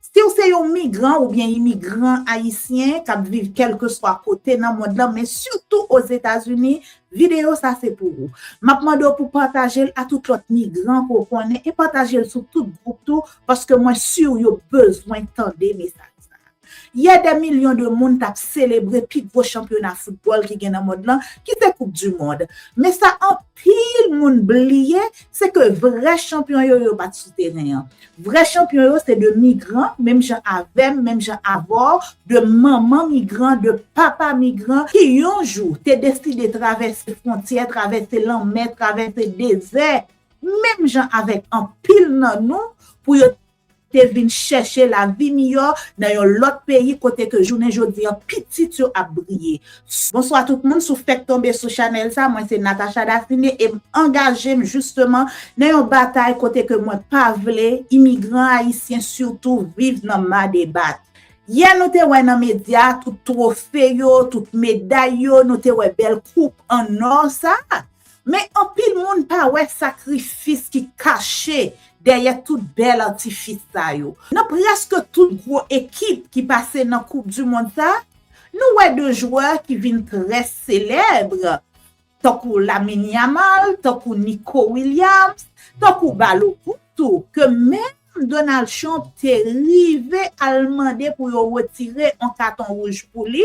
Si w se yon migran oubyen imigran ayisyen k ap viv kèlkeswa kote nan mond lan men sitou Ozetazini, videyo sa se pou ou. M ap mande w pou pataje l a tout lòt migran ke w konnen e pataje l sou tout gwoup tou paske mwen si w yo bezwen tande mesaj sa. Yè dè milyon de moun t ap selebre pi gwo chanpyona foutbòl ki gen nan mond lan ki se koup di mond. Men sa anpil moun bliye se ke vrè chanpyon yo yo pa t sou teren an. Vrè chanpyon yo se 2 migran, menm jan avè m, menm jan avè w, 2 manman migran, 2 papa migran ki yon jou te deside travèse fwontyè, travèse lanmè, travèse dezè, menm jan avèk anpil nan nou, pou yo te vin chèche lavi miyò nan yon lòt peyi kote ke jounen jodi an pitit yo ap briye. Bonswa tout moun, si w fèk tonbe sou chanèl sa, mwen se Natacha Daphine e m angaje m jisteman nan yon batay kote ke mwen pa vle imigran ayisyen sitou viv nan madebat. Yè nou te wè nan medya tout twofe yo, tout meday yo, nou te wè bèl koup an nò sa, men anpil moun pa wè sakrifis ki kache dèyè tout bèl atifis sa yo. Nan prèske tout gwo ekip ki pase nan koup du mond sa, Nou wè 2 jwè ki vin trè selèb, tankou Lamine Yamal, tankou Nico Williams, tankou Balogun tou, ke menm Donald Trump te rive al mande pou yo retire on katon wouj pou li,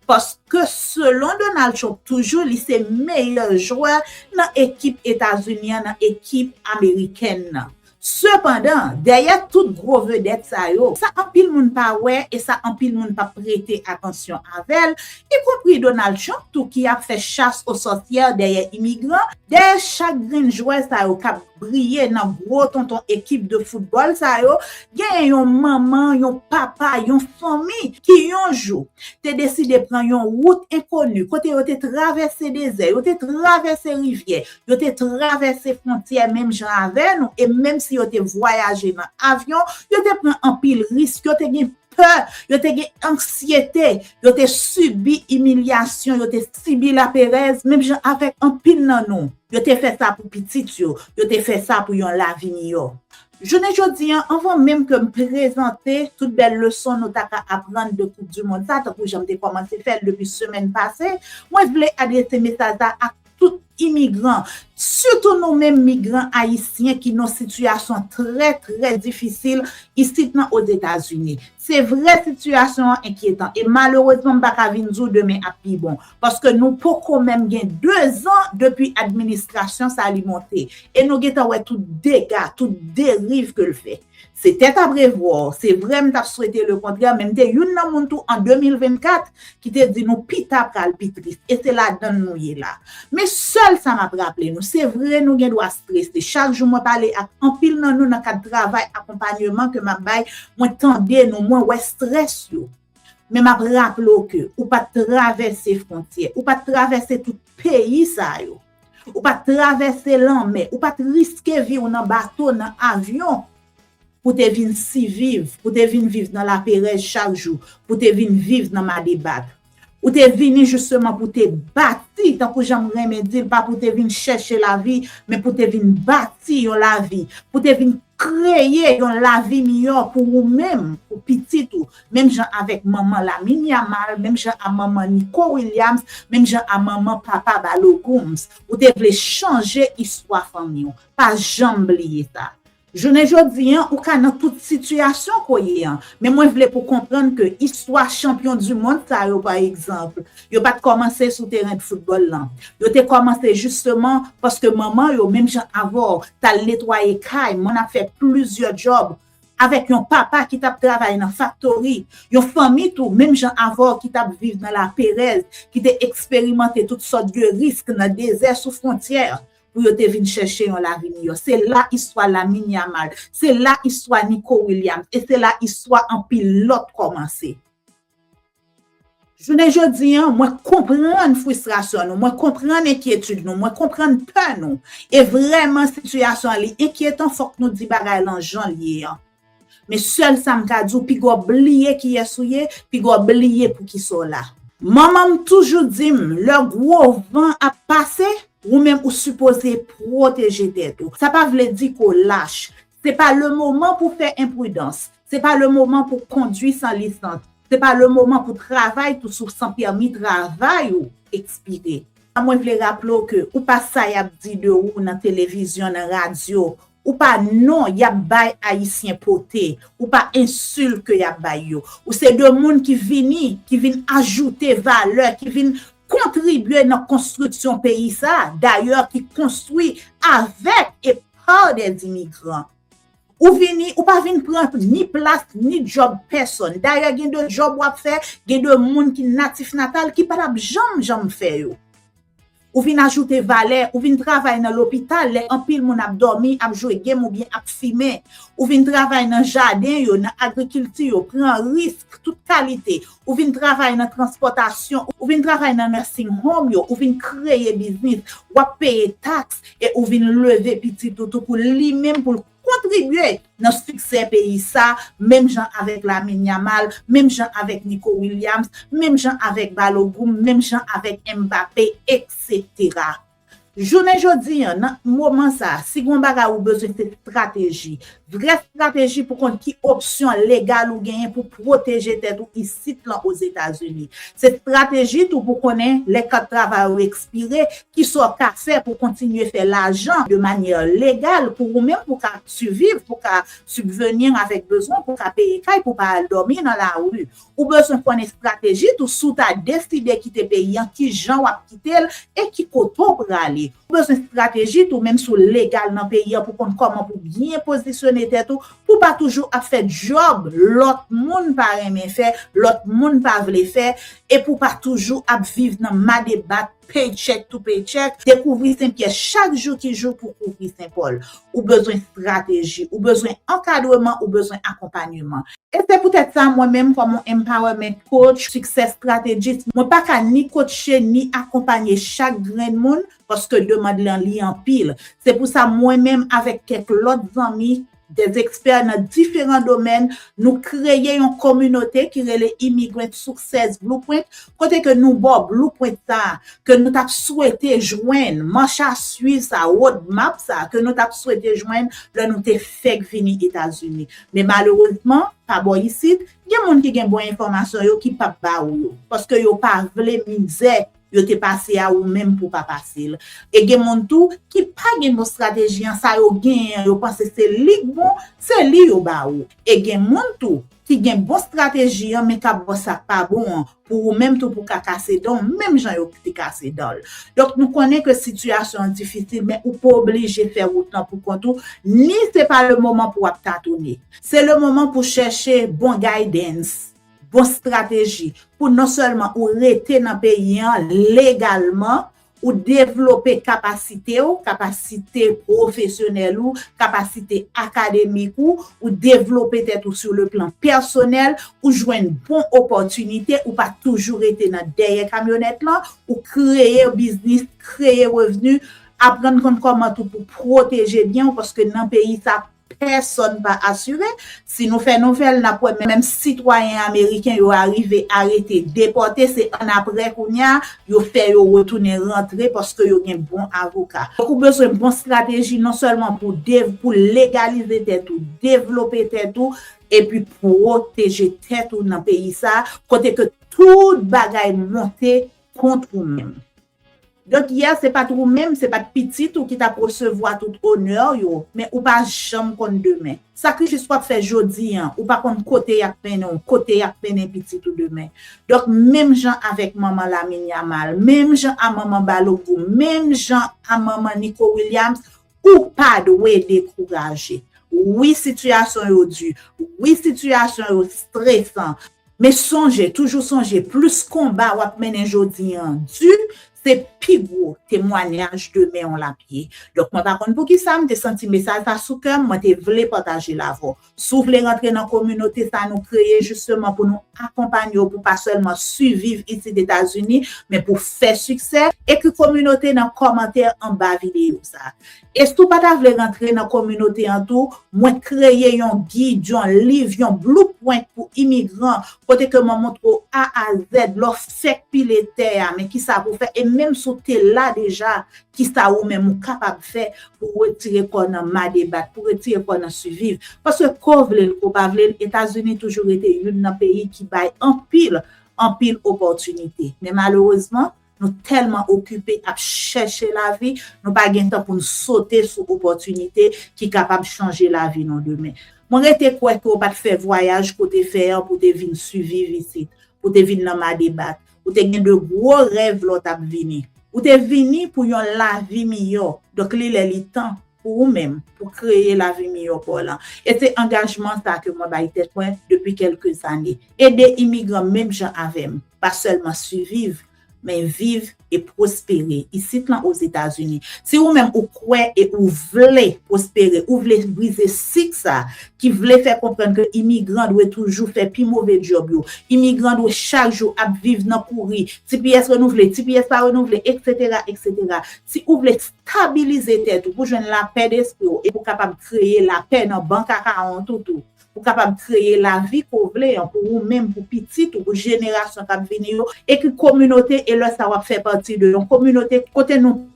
paske selon Donald Trump toujou li se meyè jwè nan ekip Etazini an, nan ekip amerikèn nan. Sepandan, dèyè tout gwo vedèt sa yo, sa anpil moun pa wè e sa anpil moun pa prete atansyon avè l, ikonpri Donald Trump tou ki ap fè chas o sòsyè dèyè imigran, dèyè chak grenn jwè sa yo k ap briye nan gwo tonton ekip de foutbòl sa yo, genyen yon manman, yon papa, yon fanmi ki yon jou te deside pran yon wout enkoni, kote yo te travèse dezè, yo te travèse rivyè, Yo te travèse fwontyè menm jan avè nou e menm si yo te vwayaje nan avyon, yo te pran anpil risk, yo te gen pè, yo te gen anksyete, yo te sibi imilyasyon, yo te sibi laperèz menm jan avèk anpil nan nou. Yo te fè sa pou pitit yo, yo te fè sa pou yon lavi miyò. Jounen jodi an, anvan menm ke m prezante tout bèl leson nou ta ka aprann de Koup Dimond sa, tankou jan m te kòmanse fè l depi semèn pase, mwen vle adrese mesaj sa ak Tout imigran, sitou nou menm migran ayisyen ki nan sitiyasyon trè trè difisil isit nan Ozetazini. Se vre sitiyasyon an enkyetan e malerezman m pa ka vin di w demen ap pi bon, paske nou poko menm gen dezan depi administrasyon sa li monte e nou gentan wè tout dega, tout deriv ke l fè. Se tèt a brevwa, se vre m t ap swete le kontrè men m te youn nan moun tou an 2024 ki te di nou pita pral pi tris e se ladan l nou ye la. Men sèl sa m ap raple nou, se vre nou gen dwa strese, chak jou mwen pale ak anpil nan nou nan kad travay akonpanyeman ke m ap bay, mwen tande nou, mwen wè strès yo. Men m ap raple w ke ou pa t travèse fwontyè, ou pa t travèse tout peyi sa yo. Ou pa t travèse lanmè, ou pa t riske vi w nan bato, nan avyon, pou te vin siviv, pou te vin viv nan laperèz chak jou, pou te vin viv nan madebat. Ou te vini jisteman pou te bati, tankou jan m renmen di l, pa pou te vin chèche lavi, men pou te vin bati yon lavi, pou te vin kreye yon lavi miyò pou ou menm, pou pitit ou, menm jan avèk manman Lamine Yamal, menm jan a manman Nico Williams, menm jan a manman papa Balo Gomes. Ou te vle chanje istwa fanmi w. Pa janm bliye sa. Jounen jodi an, ou ka nan tout sitiyasyon ke w ye an, men mwen vle pou w konprann ke istwa chanpyon du mond sa yo pa egzanp, yo pa t kòmanse sou teren de foutbòl lan. Yo te kòmanse jisteman paske manman yo, menm jan avè w, t al netwaye kay, mwen ap fè plizyè djòb, avèk yon papa ki t ap travay nan faktori, yon fanmi tou menm jan avè w ki t ap viv nan laperèz, ki te eksperimante tout sòt de risk nan dezè sou fwontyè pou yo te vin chèche yon lavi miyò. Se la istwa Lamine Yamal, se la istwa Nico Williams e se la istwa anpil lòt kòmanse. Jounen jodi an, mwen konprann fristrasyon nou, mwen konprann enkyetid nou, mwen konprann pè nou. E vrèman sitiyasyon an li enkyetan fòk nou di bagay lan jan l ye an. Men sèl sa m ka di w piga w bliye kiyès ou ye, piga w bliye poukisa w la. Manman m toujou di m lè gwo van ap pase, ou menm ou sipoze pwoteje tèt ou. Sa pa vle di ke w lach, Se pa le moman pou fè enpridans. Se pa le moman pou kondwi san lisans. Se pa le moman pou travay tou souf san pèmi travay ou ekspire. Sa mwen vle raple w ke ou pa sa y ap di de ou nan televizyon, nan radyo. Ou pa non y ap bay Ayisyen pote. Ou pa ensilt ke y ap bay yo. Ou se de moun ki vini, ki vin ajoute valè, ki vin kontribye nan konstriksyon peyi sa a, dayè ki konstwi avèk e. Par des immigrants. Ou vini, ou pa vin pran ni plas, ni djòb pèsòn. Dayè gen de djòb w ap fè, gen de moun ki natif natal ki pa t ap janm janm fè yo. Ou vin ajoute valè, ou vin travay nan lopital lè anpil moun ap dòmi, ap jwe gem oubyen ap fimen. Ou vin travay nan jaden yo, nan agrikilti yo, pran risk tout kalite. Ou vin travay nan transpòtasyon, ou vin travay nan nursing home yo, ou vin kreye biznis, w ap peye taks e ou vin leve pitit ou tou pou li menm pou l kontribye nan siksè peyi sa a menm jan avèk Lamine Yamal, menm jan avèk Nico Williams, menm jan avèk Balogun, menm jan avèk Mbappé, eksetera. Jounen jodi an, nan moman sa a, si gon bagay ou bezwen se strateji. Vrè strateji pou konn ki opsyon legal ou genyen pou pwoteje tèt ou isit lan Ozetazini. Se strateji tou pou konnen lè kat travay ou ekspire, ki sa w ka fè pou kontinye fè lajan de manyè legal pou ou menm pou ka siviv, pou ka sibvenir avèk bezwen, pou ka peye kay, pou pa al dòmi nan lari. Ou bezwen konn estrateji tou si w ta deside kite peyi an ki jan w ap kite l e ki kote w prale. Ou bezwen estrateji tou menm si w legal nan peyi an pou konn kòman pou byen pozisyone tèt ou pou w pa toujou ap fè djòb lòt moun pa renmen fè, lòt moun pa vle fè e pou w pa toujou ap viv nan madebat Paycheck to paycheck, dekouvri Sen Pyè chak jou ki jou pou kouvri Sen Pòl. Ou bezwen strateji, ou bezwen ankadreman, ou bezwen akonpanyeman. E se poutèt sa mwen menm kòm yon Empowerment Coach, Success Strategist, mwen pa ka ni kotche ni akonpanye chak grenn moun paske demand lan li anpil. Se pou sa mwen menm avèk kèk lòt zanmi Des experts nan diferan domèn, nou kreye yon kominote ki rele Immigrant Success Blueprint kote ke nou baw blueprint sa a ke nou tap swete jwenn, manch a swiv sa a, road map sa a ke nou tap swete jwenn lè nou te fèk vini Etazini. Men malerezman, pa bò isit, gen moun ki gen bon enfòmasyon yo ki pap ba ou yo, paske yo pa vle mizè. yo te pase a ou menm pou pa pase l e gen moun tou ki pa gen bon strateji an sa yo genyen an yo panse se li k bon se li yo ba ou e gen moun tou ki gen bon strateji an men k ap ba w sa k pa bon an pou ou menm tou pou w ka kase dan w menm jan yo te kase dan l donk nou konnen ke sitiyasyon an difisil men ou pa oblije fè wout lan pou kont ou ni se pa le moman pou w ap tatoune se le moman pou w chèche bon guidance. bon strateji pou non sèlman ou rete nan peyi an legalman, ou devlope kapasite ou, kapasite pwofesyonèl ou, kapasite akademik ou, ou devlope tèt ou sou le plan pèsonèl, ou jwenn bon opòtinite, ou pa toujou rete nan dèyè kamyonèt lan, ou kreye biznis, kreye revni, aprann konn kòman tou pou pwoteje byen ou paske nan peyi sa Pèsòn pa asire. Si nou fè nouvèl, n ap wè menm sitwayen ameriken yo arive arete, depòte, se annapre kounye a yo fè yo retounen rantre paske yo gen bon avoka. Donk ou bezwen bon strateji non sèlman pou pou legalize tèt ou, devlope tèt ou epi pwoteje tèt ou nan peyi sa a kote ke tout bagay monte kont ou menm. Donk yè se pat wou menm, se pat pitit ou ki tap resevwa tout onè yo, men ou pa janm konn demen. Sakrifis wap fè jodi an, ou pa konn kote yap mennen w, kote yap mennen pitit ou demen. Donk menm jan avèk manman Lamine Yamal, menm jan a manman Balogun, menm jan a manman Nico Williams, Ou pa dwe dekouraje. Wi sitiyasyon yo di, wi sitiyasyon yo stresan, men sonje, toujou sonje plis konba wap mennen jodi an di, se pi gwo temwanyaj demen w lap ye. Donk mwen pa konn poukisa m te santi mesaj sa sou kè m, mwen te vle pataje l avè w. Si w vle rantre nan kominote sa nou kreye jisteman pou nou akonpanye w pou pa sèlman siviv isit Etazini, men pou fè siksè, ekri kominote nan kòmantè anba videyo sa. E si w pa ta vle rantre nan kominote an tou, mwen t kreye yon gid, yon liv, yon blueprint pou imigran kote ke mwen montre w A a Z lè w fèk pile tè a men kisa pou w fè e menm si w te la deja Kisa ou menm ou kapab fè pou ou retire kò w nan ma debat, pou retire kò w nan siviv? Paske ke w vle l ke w pa vle l, Etazini toujou rete youn nan peyi ki bay anpil, anpil opòtinite. Men malerezman, nou tèlman okipe ap chèche lavi, nou pa gen tan pou n sote sou opòtinite ki kapab chanje lavi nou demen. Mwen rete kwè ke w pa t fè vwayaj ke w te fè an pou w te vin siviv isit, pou w te vin nan ma debat. Ou te gen de gwo rèv lè w t ap vini. Ou te vini pou yon lavi miyò. Donk li lè li tan pou ou menm pou kreye lavi miyò pa w lan. E se angajman sa ke mwen bay tèt mwen depi kèlke zane. Ede imigran menm jan avè m pa sèlman siviv, men viv e pwospere isit lan Ozetazini. Si ou menm ou kwè e ou vle pwospere, ou vle brize sik sa ki vle fè konprann ke imigran dwe toujou fè pi move djòb yo, imigran dwe chak jou ap viv nan kouri, tps renouvle, tps pa renouvle, eksetera, eksetera. Si ou vle stabilize tèt ou, pou jwenn lapè despri w e pou kapab kreye lapè nan bank akawon tout ou, pou kapab kreye lavi ke w vle an pou ou menm, pou pitit ou, pou jenerasyon k ap vini yo, ekri kominote e lè sa w ap fè pati de yon kominote kote nou.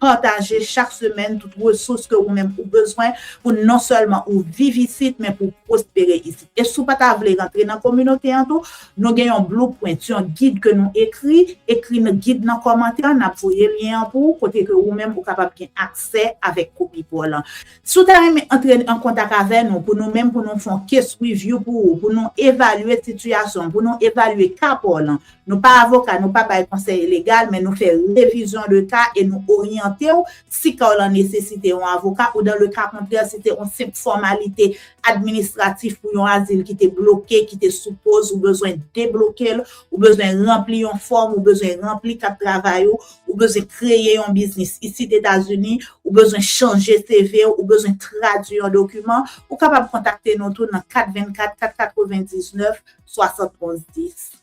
pataje chak semèn tout resous ke ou menm ou bezwen pou non sèlman ou viv isit men pou w pwospere isit. E si w pa ta vle rantre nan kominote an tou, nou gen yon blueprint, yon gid ke nou ekri, ekri gid nan kòmantè an, n ap voye lyen an pou ou kote ke ou menm ou kapab gen aksè avèk kopi pa w lan. Si w ta renmen antre an kontak avè nou pou nou menm pou nou fon case review pou ou, pou nou evalye sitiyasyon w, pou nou evalye ka pa w lan, Nou pa avoka, nou pa bay konsèy legal, men nou fè revizyon de ka e nou oryante w si ka w lan nesesite yon avoka ou dan le ka kontrè si te on senp fòmalite administratif pou yon azil ki te bloke, ki te sou poz, ou bezwen debloke l, ou bezwen ranpli yon fòm, ou bezwen ranpli kat travay ou, ou bezwen kreye yon biznis isit Etazini, ou bezwen chanje CV w, ou bezwen tradui yon dokiman, ou kapab kontakte nou tou nan 424 499 71 10.